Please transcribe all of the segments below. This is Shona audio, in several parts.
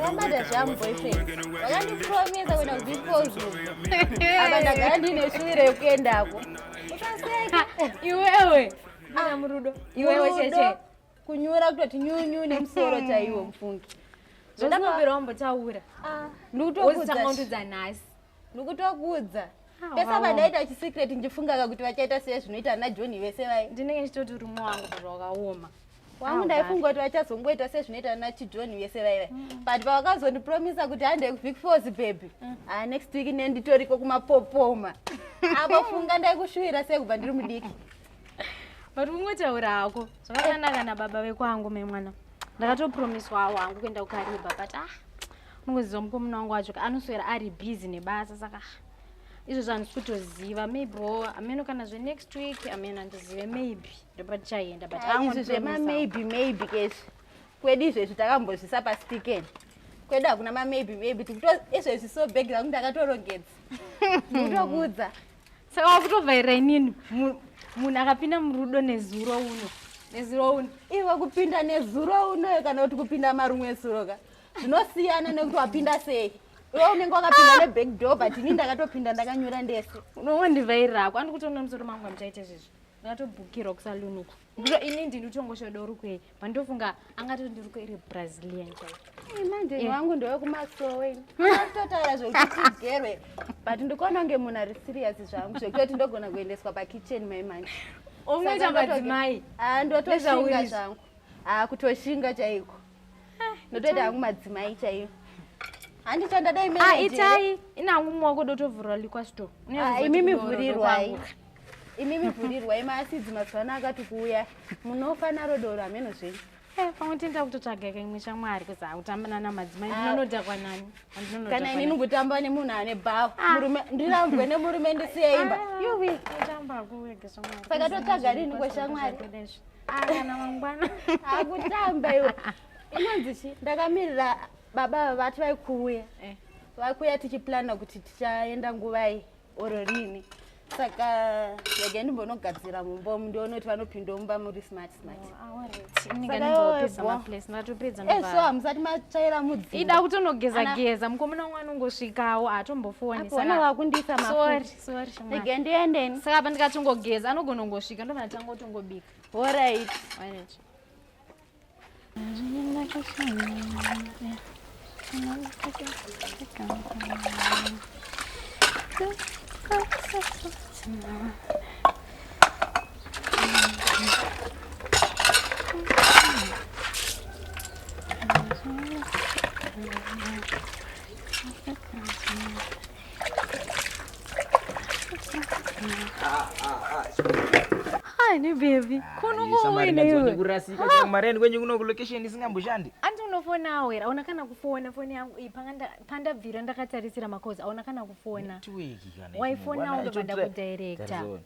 Wabada zvamu boyfriend. Wakandipromise kuenda kudispose. Apa ndagara ndine shuviro yekuendako. Utaseka. Iwewe. Mwana murudo. Iwewe cheche. kunyura kutoti nyunyu nemusoro chaiwo mufungi zvandakambira wambotaura ah. ndikutokuudza nhasi ndikutokuudza ah, pese vandaita chisecret ndichifungaka kuti vachaita sei zvinoita ana johni vese vai ndinenge ndichitoti rumwe wangu zvakaoma wangu ah, ndaifunga kuti vachazongoita sezvinoita ana chijohni vese vaiva mm. but pavakazondipromisa kuti handei kubig fos baby mm. a next week nenditoriko kumapopoma apo funga ndaikushuwira sei kubva ndiri mudiki but ungotaura hako zvakakanaka nababa vekwangu me mwana ndakatopromiswawo wangu kuenda kukariba but ah unongoziva mukomuna wangu wacho anoswera ari busy nebasa saka izvo zvanhu sikutoziva maybe wo ameno kana zve next week ameno andizive maybe ndopa tichayenda but ah, izvi zvema maybe maybe kesi kwedu izvezvi takambozvisa pastiken kwedu hakuna mamaybe maybe tikuto izvezvi so bag rangu ndakatorongedza ndikutokuudza saka wakutovhaira inini munhu akapinda murudo nezuro uno nezuro uno iwe kupinda nezuro unoyo kana kuti kupinda marumwe esuro ka zvinosiyana nekuti wapinda sei iwe unenge wakapinda neback door but ini ndakatopinda ndakanyura ndese unowondivhairako andikutoona musoro mangu amuchaite zvizvi ndakatobhukirwa kusalunukwa Ndiko ini ndini tongoshodo rukwei pandofunga angatoti ndiruko iri brazilian manje eh. wangu ndowe kumasowe atotaura zvekuti tigerwe but ndikuona kunge munhu ari serious zvangu zvekutoti ndogona kuendeswa pakitchen mai manje unoita madzimai ndotoshinga zvangu kutoshinga chaiko ah, ndotoita hangu madzimai chaiyo handi chandadai ah, itai inangu mwaoko dotovhurwa likwa sto ah, imi mivhurirwai imi mivhurirwai maasidzi mazuva ano akati kuuya munofa naro doro hameno zvenyu eh, pamwe tinda kutotsvaga kaimwe shamwari kuzi akutambana namadzimai ndinonodhakwa nani kana ini ndikutamba nemunhu ane bhawa murume ndirambwe nemurume ndisiyeimba saka totsvaga rini kweshamwari ah, kana mangwana akutamba iwe inonzi chi ndakamirira baba vati vaikuuya eh. vakuuya tichiplana kuti tichaenda nguvai oro rini saka yega ndimbonogadzira mumba umu ndiono kuti vanopinda mumba muri smart smarteso hamusati matsvaira mudziida kutonogeza geza mukomana wangu anongosvikawo hatombofuonisana vakundiisa mafuta Sorry shamwari. Ndege ndiendeni. Saka apa ndikatongogeza anogona kungosvika ndobva ndatanga kutongobika. All right. All right. Hani baby, kunongowenewekurasika ah. kumareni kwenyu kuno kulocation isingamboshandi. Anti unofona awera, aona kana kufona foni yangu iyi pandabvira ndakatarisira makozi, aona kana kufona. Network kana. Waifona unobada kudirector.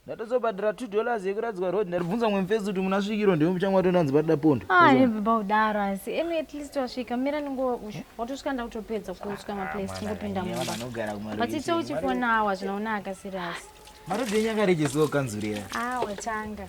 ndatozobhadhara two dollars yekuradzikwa road ndaribvunza mumwe mufesi kuti munasvikirwa ndimo muchanga matondanzi padida pondo ah, aiviba kudaro asi imi at least wasvika mira ningo watosvika ndakutopedza kutswa maplace kungopinda mumba but ita uchifonawo hazvinaonaka serious marodi enyu akarejesewo kanzurira ah watanga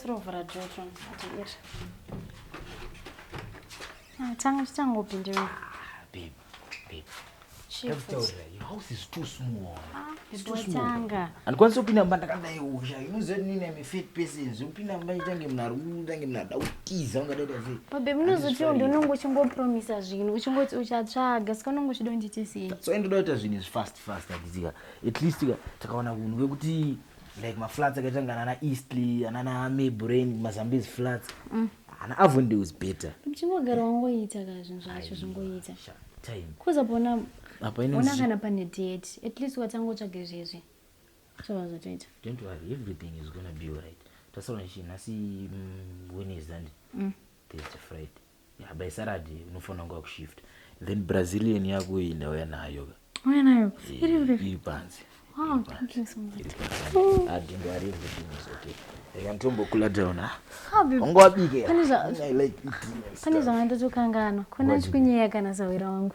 tirovhura jojo atiiri ah, tanga tichangopindira handikwanisi kupinda mumba ndakadai usha inoziva kuti nini ame fat persons ukupinda mumba itange munhu ari utange munhu ada kutiza ungadaita sei babe munozotiwo ndi unonge uchingopromisa zvinhu uchingoti uchatsvaga saka unonge uchida unditi sei so ndoda kuita zvinhu izvi fast fast handizika at least takawana kunhu kwekuti like maflats akaitanga nana eastley anana mabrain mazambies flats mm. ana avonde was better uchingogara wangoita ka zvinhu zvacho zvingoita kuza pona ona kana pane date at least watangotsvage zvezvi zvovazotoita don't worry everything is gonna be alright tasaura nchi nhasi mm, wednesday and mm. thursday friday Yeah, by Saturday unofanira kunge wakushift. Then Brazilian yako iyi ndauya nayo ka. Uya nayo. Eh, Iri uri. Iri panze. Wow, thank you so much. Oh. Adingo ari mbutinisi okay. Reka nditombocool down ha. How be? Unga wabike. Pane zva- I like eating. Pane zvanga ndotokanganwa. Kuna Wazvibika. chikunyeya kana sahwira wangu.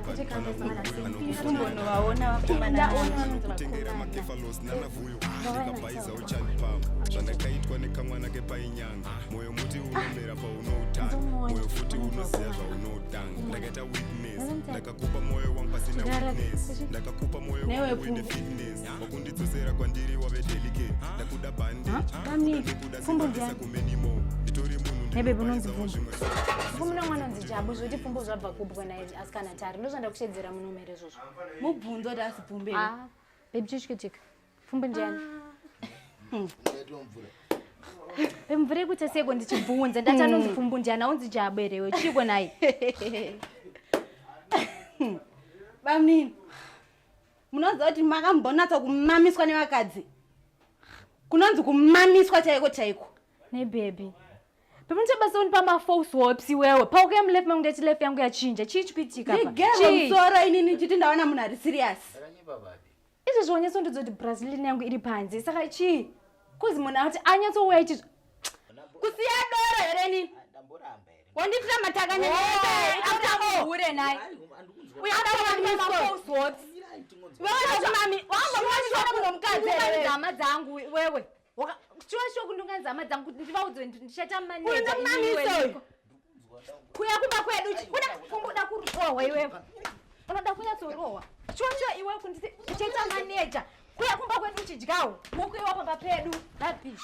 zvandakaitwa nekamwana kepainyanga moyo muti unomera paunoutanga moyo futi unoziva zvaunotanga ndakaita witness ndakakupa moyo wangu pasina witness ndakakupa moyo wangu uine fitness wakundidzosera kwandiri wave delicate ndakuda bande ndakuda simbandisa kumenimo nditori munhu ndinobaizavo zvimwe fumuna mwana nzijabu zvoti pfumbo zvabva kubwa asikana tari ndozvanda kushedzera munomere zvozvo mubvunzo kuti asi pfumbe ah, baby chichikutika pfumbe ndiani mvura yekuita seko ndichibvunza ndati hmm. anonzi pfumbu ndiani aunzi jabo erewe chiiko naye bamnini munoziva kuti makambonatsa kumamiswa nevakadzi kunonzi kumamiswa chaiko chaiko nebhebhi Pamutse basa unipa ma false hopes iwewe. Pauka ya mlefu mangu ndati life yangu yachinja. Chii chikuitika apa? Ndigero msoro ini nichiti ndaona munhu ari serious. Izvi zvionyesa ndidzo kuti Brazilian yangu iri panze. Saka chii? Kuzi munhu ati anyatsouya ichi kusiya doro here nini? Ndamboramba here. Wanditira matakanya nini? After hure naye. Uya ndakati ma false hopes. Wewe ndati mami, wangu mwanisha kuno mkadzi. Ndama dzangu wewe. Chiwa shoku ndonganzi hama dzangu kuti ndivaudzwe ndichaita maneja iniweiko. Kuya kumba kwedu unoda kumbuda kurohwa iwewe. Unoda kunyatsorohwa. Chiwa chiwa iwewe kunditi uchaita maneja. Kuya kumba kwedu uchidyawo. Mukuiwa pamba pedu. Rubbish.